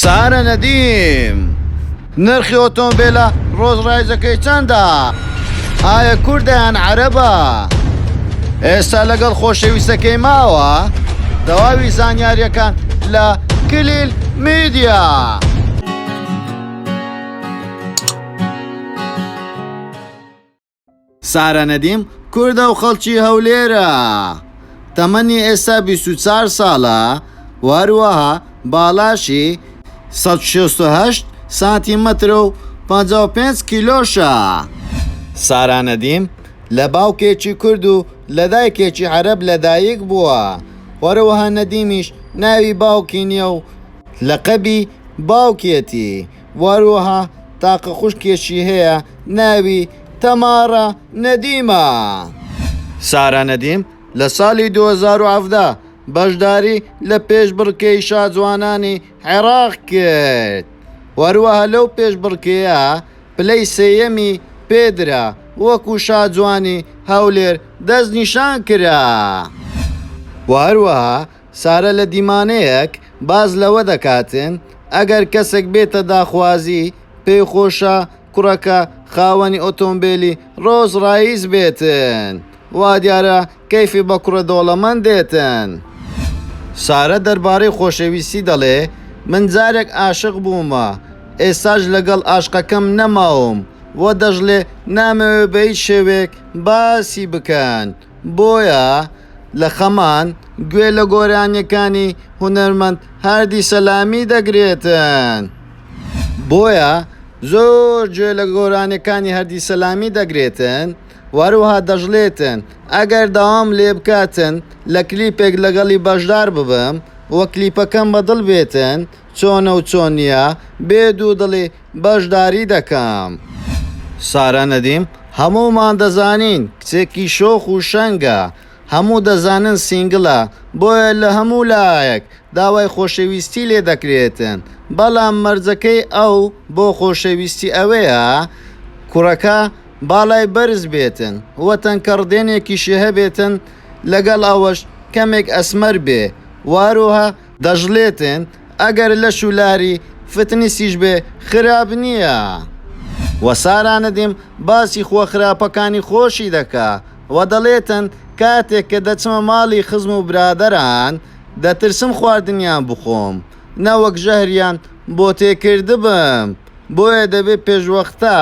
سارە نەدیم، نرخی ئۆتۆمبێلە ڕۆز ڕایزەکەی چەندە؟ ئایا کوردە یان عەرەبە؟ ئێستا لەگەڵ خۆشەویستەکەی ماوە؟ تەواوی زانیاریەکان لە کلیل میدیا. سارا نەدیم، کوردە و خەڵکی هەولێرە، تەمەنی ئێستا بیست و چوار ساڵە و هەروەها باڵاشی سەد و شەست و هەشت سانتیمەترە و پەنجا و پێنج کیلۆشە. سارا نەدیم، لە باوکێکی کورد و لە دایکێکی عەرەب لەدایک بووە، هەروەها نەدیمیش ناوی باوکی نییە و لەقەبی باوکیەتی، واروەها تاقە خوشکێکی هەیە ناوی تەمارا نەدیمە. سارا نەدیم لە سالی دوو هەزار و حەڤدە بەشداری لە پێشبڕکێی شاجوانانی عێراق کرد، واروەها لەو پێشبڕکێیە پلەی سێیەمی پێدرا وەکو شاجوانی هەولێر دەستنیشان کرا. واروەها سارە لە دیمانەیەک باس لەوە دەکات، ئەگەر کەسێک بێتە داخوازی، پێی خۆشە کوڕەکە خاوەنی ئۆتۆمبێلی ڕۆڵز ڕایس بێت، وا دیارە کەیفی بە کوڕە دەوڵەمەند دێت. سارە دەربارەی خۆشەویستی دەڵێ، من جارێک عاشق بووم، ئێستاش لەگەڵ عەشقەکەم نەماوم و دەشڵێ، نامەوێ بە هیچ شێوەیەک باسی بکەن. بۆیە لە خەمان گوێ لە گۆرانیەکانی هونەرمەند هاردی سەلامی دەگرێتن. بۆیە زۆر گوێ لە گۆرانیەکانی هەردی سەلامی دەگرێتن وەروەها دەژلێتن ئەگەر داوام لێ بکاتن لە کلیپێک لەگەڵی بەژدار ببم و کلیپەکەم بە دڵ بێتن چۆنە و چۆن نیە بێ دوو دڵی بەشداری دەکەم. سارا نەدیم، هەموومان دەزانین کچێکی شۆخ و شەنگە، هەموو دەزانن سینگلە، بۆیە لە هەموو لایەک داوای خۆشەویستی لێ دەکرێتن، بەڵام مەرجەکەی ئەو بۆ خۆشەویستی ئەوەیە کوڕەکە باڵای بەرز بێتن و تەنکە ڕدێنێکیشی هەبێتن، لەگەڵ ئەوەش کەمێک ئەسمەر بێ و هەروەها دەشڵێتن ئەگەر لەش و لاری فتنسیش بێ خراپ نیە. وە سارا ندیم باسی خووە خراپەکانی خۆشی دەکا وە دەڵێتن کاتێک کە دەچمە ماڵی خزم و برادەران دەترسم خواردنیان بخۆم نەوەک ژەهریان بۆ تێکردبم بۆیە دەبێ پێشوەختە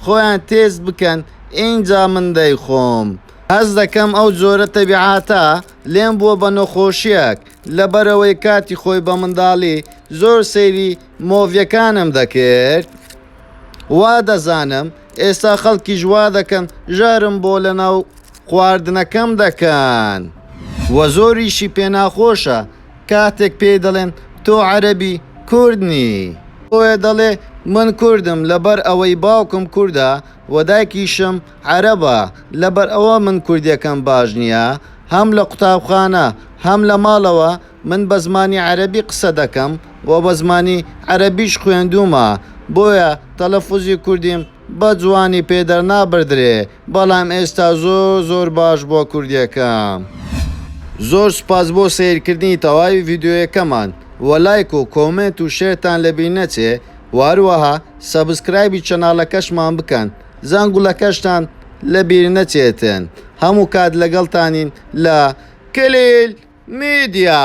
خۆیان تێست بکەن ئینجا من دەیخۆم هەست دەکەم ئەو جۆرە تەبیعاتە لێم بووە بە نۆخۆشیەک لەبەرئەوەی کاتی خۆی بە منداڵی زۆر سەیری مۆڤیەکانم دەکرد وا دەزانم ئێستا خەڵکیش وا دەکەن ژەهرم بۆ لەناو خواردنەکەم دەکەن وە زۆریشی پێ ناخۆشە کاتێک پێی دەڵێن تۆ عەرەبی کورد نی. بۆیە دەڵێ من کوردم لەبەر ئەوەی باوکم کوردە وە دایکیشم. عەرەبە لەبەر ئەوە من کوردیەکەم باش نیە هەم لە قوتابخانە هەم لە ماڵەوە من بە زمانی عەرەبی قسە دەکەم وە بە زمانی عەرەبیش خوێندومە بۆیە تەلەفوزی کوردیم بە جوانی پێ دەرنابردرێ بەڵام ئێستا زۆر زۆر باش بوە کوردیەکەم. زۆر سوپاس بۆ سەیرکردنی تەواوی ڤیدیۆیەکەمان وە لایک و کۆمێنت و شێرتان لەبیر نەچێ وە هەروەها سەبسکرایبی چەناڵەکەشمان بکەن. زەنگولەکەشتان لە بیر نەچێتن هەموو کات لەگەڵتانین لە کلیل میدیا.